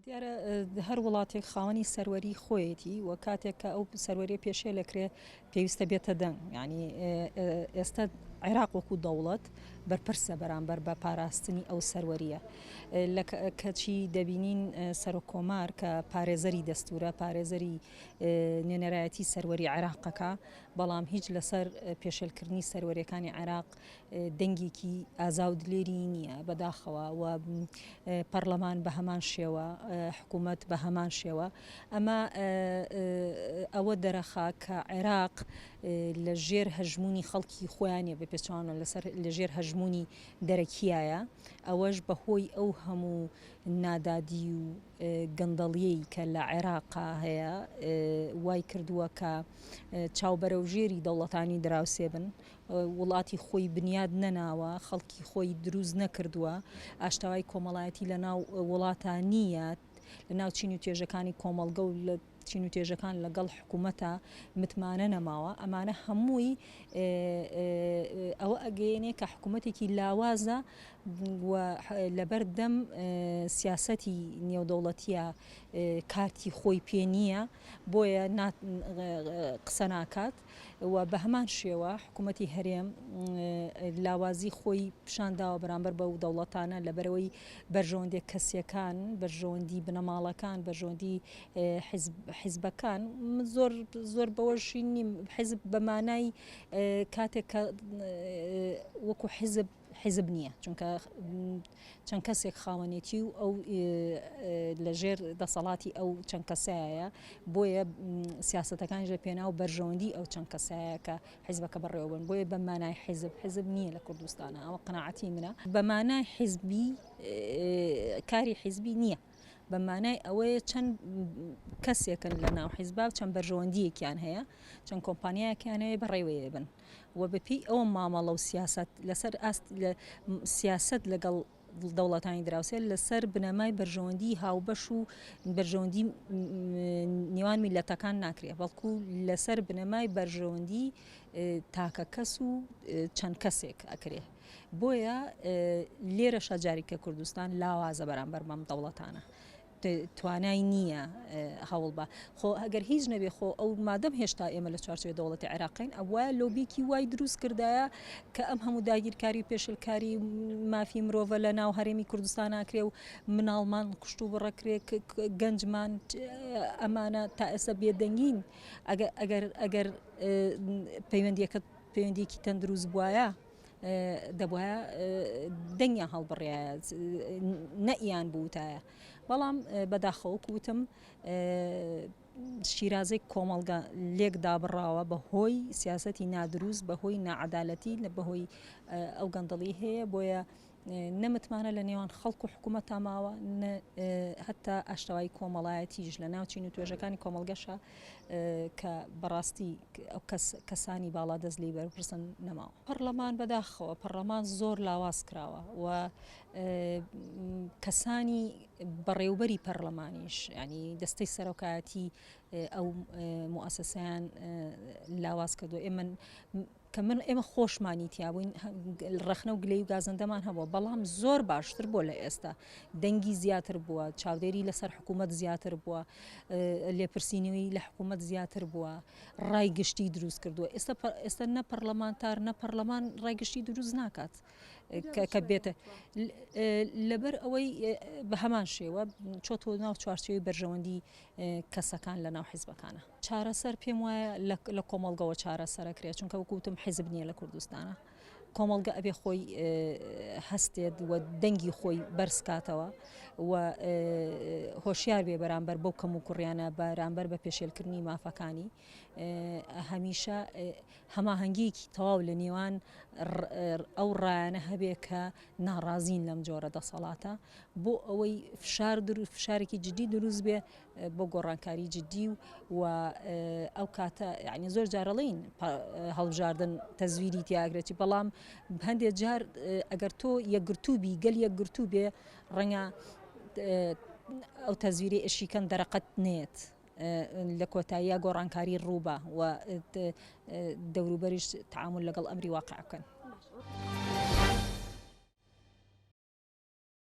دیارە هەر وڵاتێک خاوەنی سەروەری خۆیەتی و کاتێک کە ئەو سەروەری پێشێ لەکرێ پێویستە بێتە دەنگ ینی ئێستا عێراق وەکو دەوڵەت بەرپرسە بەرامبەر بە پاراستنی ئەو سەروەریە کەچی دەبینین سەرۆک کۆمار کە پارێزەری دەستورە پارێزەری نوێنەرایەتی سەروەری عێراقەکە بەڵام هیچ لەسەر پێشلکردنی سەروەریەکانی عێراق دەنگێکی ئازا و دلێری نییە بەداخەوە و پەڕلەمان بە هەمان شێوە حکوومەت بە هەمان شێوە ئەمە ئەوە دەرەخا کە عێراق لە ژێر هەژمونی خەڵکی خۆیانە بە پێچوانە لەسەر لە ژێر هەژمونی دەرەکیایە ئەوەش بەهۆی ئەو هەموو نادادی و گەندەڵیەی کە لە عێراقا هەیە وای کردووە کە چاوبەرەو ژێری دەوڵەتانی دراوسێ بن وڵاتی خۆی بنیاد نەناوە، خەڵکی خۆی دروست نەکردووە، ئاشتەوایی کۆمەڵایەتی لەناو وڵاتە نییە، لەناو چین و توێژەکانی کۆمەڵگە و لە چین و توێژەکان لەگەڵ حکوومەتە متمانە نەماوە، ئەمانە هەمووی ئەوە ئەگەیەنێ کە حکوومەتێکی لاوازە و لەبەر دەم سیاسەتی نێودەوڵەتیە کارتی خۆی پێ نییە، بۆیە قسە ناکات. و بە هەمان شێوە حکوومەتی هەرێم لاوازی خۆی پیشان داوە بەرامبەر بەو دەوڵەتانە لەبەرەوەی بەرژەوەندی کەسیەکان بەرژەوەندی بنەماڵەکان بەژۆندی حیزبەکان زۆر زۆر بەوەشی نیم حیزب بەمانای کاتێک کە وەکو حیزب حیزب نییە چونکە چەند کەسێک خاوەنێتی و ئەو لە ژێر دەسەڵاتی ئەو چەند کەسایە بۆیە سیاستەکان ژە پێناو بەرژەوەندی ئەو چەند کەسایە کە حیزبەکە بەڕێوەبن بۆیە بە مانای حیزب حیزب نییە لە کوردستانە ئەوە قەنەعەتی منە بە مانای حیزبی کاری حیزبی نییە. بە مانای ئەوەیە چەند کەسێکن لە ناو حیزبا و چەند بەرژەوەندیەکیان هەیە چەند کۆمپانیایەکیانەیە بەڕێوەیە بن و بە پێی ئەوە مامەڵە و سیاسەت لەسەر ئاست سیاسەت لەگەڵ دەوڵەتانی دراوسێ لەسەر بنەمای بەرژەوەندی هاوبەش و بەرژەوەندی نێوان میلەتەکان ناکرێت بەڵکو لەسەر بنەمای بەرژەوەندی تاکە کەس و چەند کەسێک ئەکرێ بۆیە لێرە شەجاریکە کوردستان لاوازە بەرامبەر بەم دەوڵەتانە توانای نییە هەوڵ بە خۆ ئەگەر هیچ نەبێ خۆ ئەو مادەم هێشتا ئێمە لە چوارچێ دەوڵەتی عێراقین ئەوە لۆبیکی وای دروست کردایە کە ئەم هەموو داگیرکاری پێشلکاری مافی مرۆڤە لە ناو هەرێمی کوردستان ناکرێ و مناڵمان کوشت و بڕەکرێ گەنجمان ئەمانە تا ئێستا بێدەنگین ئەگەر ئەگەر پەیوەندیەکە پەیوەندیکی تەندروست بواە دەبوایە دەنگیان هەڵبڕایە نەئیان بوتایە بەڵام بەداخەوە کوتم شیرازەی کۆمەڵگە لێک دابڕاوە بە هۆی سیاستی نادروست بە هۆی نەعادالەتی لە بەهۆی ئەو گەندەڵی هەیە بۆیە نە متمانە لە نێوان خەڵک و حکوومەتدا ماوە نە هەتا ئاشتەوایی کۆمەڵایەتیش لە ناوچین و توێژەکانی کۆمەڵگەشە کە بەڕاستی ئەو کەسانی باڵا دەست لی بەرپرسن نەماوە پەرلەمان بەداخەوە پەرلەمان زۆر لاواز کراوە و کەسانی بەڕێوبەری پەرلەمانیش ینی دەستەی سەرۆکایەتی ئەو موسسیان لاواز کردو ئێمە کە من ئێمە خۆشمانی تیابووین ڕەخنە و گلەی و گازندەمان هەبووە بەڵام زۆر باشتر بۆ لە ئێستا دەنگی زیاتر بووە چاودێری لەسەر حکوومەت زیاتر بووە لێپرسینەوەی لە حکوومەت زیاتر بووە ڕای گشتی دروست کردووە ئێستا ئێستا نە پەرلەمانتار نە پەرلەمان ڕای گشتی دروست ناکات کە بێتە لەبەر ئەوەی بە هەمان شێوە چۆتۆ ناو چوارچەوەی بەرژەوەندی کەسەکان لەناو حیزبەکانە. چارەسەر پێم وایە لە کۆمەڵگەوە چارەسەر ئەکرێت چونکە وەکو وتم حیزب نییە لە کوردستانا کۆمەڵگە ئەبێ خۆی هەستێت و دەنگی خۆی بەرزکاتەوە و هۆشیار بێ بەرامبەر بەو کەم و کوڕیانە بەرامبەر بە پێشێلکردنی مافەکانی هەمیشە هەماهەنگییەکی تەواو لە نێوان ئەو ڕایانە هەبێ کە ناڕازین لەم جۆرە دەسەڵاتە بۆ ئەوەی فشار فشارێکی جددی دروست بێ بۆ گۆڕانکاری جددی و ئەو کاتە یعنی زۆر جارەڵین هەڵبژاردن تەزویری تیاگرێتی بەڵام هەندێ جار ئەگەر تۆ یەکگرتووبی گەل یەکگرتوو بێ ڕەنگە ئەو تەزویری ئەشیکەن دەرەقەت نێت لە کۆتاییا گۆڕانکاری ڕووبە و دەوروبەریش تعامل لەگەڵ ئەمری واقع بکەن.